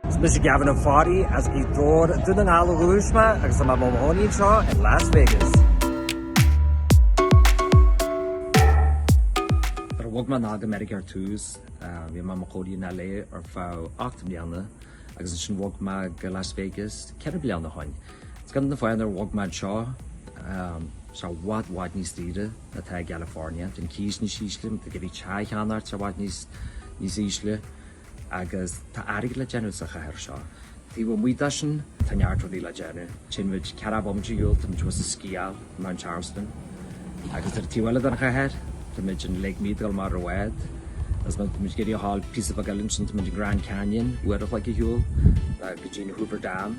Is mise Gavin Ó Fearraigh as Gaoth Dobhair, Dún na nGall ó thús mé agus tá mé i mo chónaí anseo i Las Vegas. Nuair a bhog mé anall go Meiriceá ar dtús, bhí mé i mo chónaí in LA ar feadh ocht mbliana agus ansin bhog mé go Las Vegas ceithre bliana ó shoin. Is ceann de na fáthanna ar bhog mé anseo, tá sé i bhfad, bhfad níos saoire. atá i gCalifornia, tá an cíos níos ísle, nó ag a bhí teach a cheannacht i bhfad níos níos ísle, agus tá airgead le déanamh sa chathair seo. Taobh amuigh de sin, tá neart rudaí le déanamh. Téann muid ceathracha bomaite ar shiúl, tá muid thuas ag sciáil i Mount Charleston, agus ar an taobh eile den chathair, tá muid in Lake Mead amuigh ar bhád, agus má tá muid ag iarraidh a ghabháil píosa beag eile ansin, tá muid in Grand Canyon, uair an chloig ar shiúl, go dtí an Hoover Dam.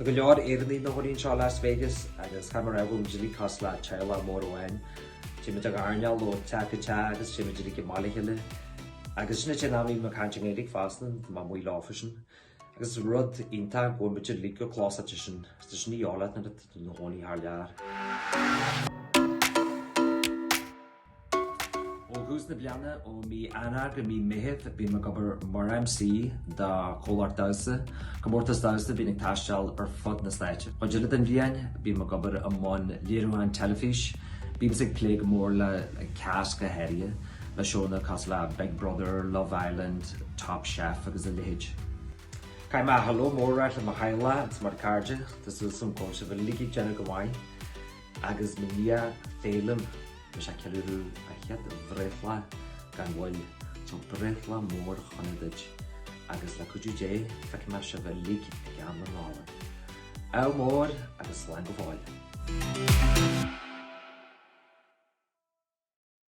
Tá go leor Éireannaigh ina gcónaí anseo i Las Vegas agus caithfidh mé a rá go bhfuil muid uilig cosúil le teaghlach mór amháin. Téimid ag airneál ó teach go teach agus téimid uilig amach le chéile. Agus sin an t-aon am a bhíonn muid ag caint i nGaeilge fosta, nuair atá mé amuigh leofasan. Agus is rud iontach go bhfuil muid uilig go close leis an tradition, ní eol leat nuair atá tú i do chónaí thar lear. Ó thús na bliana, ó mí Eanáir go mí Meitheamh, bím ag obair mar MC do chomhlacht damhsa, comórtas damhsa a bhíonn ag taisteal ar fud na Stáit. Cuid eile den bhliain, bím ag obair i mbun léiriúcháin teilifíse, bímse ag plé go mór le casting go háirithe, le seónna cosúil le Big Brother, Love Island, Top Chef agus a leithéid. Caithfidh mé hello mór a rá le mo theaghlach agus mo chairde, tá súil agam go bhfuil sibh uilig ag déanamh go maith. Agus mo nia Féilim, tá sé ag ceiliúradh a chéad bhreithlá gan mhoill, so breithlá mór sona duit agus le cuidiú Dé feicfidh mé sibh uilig i gcomhair na Nollag. Ádh mór agus slán go fóill.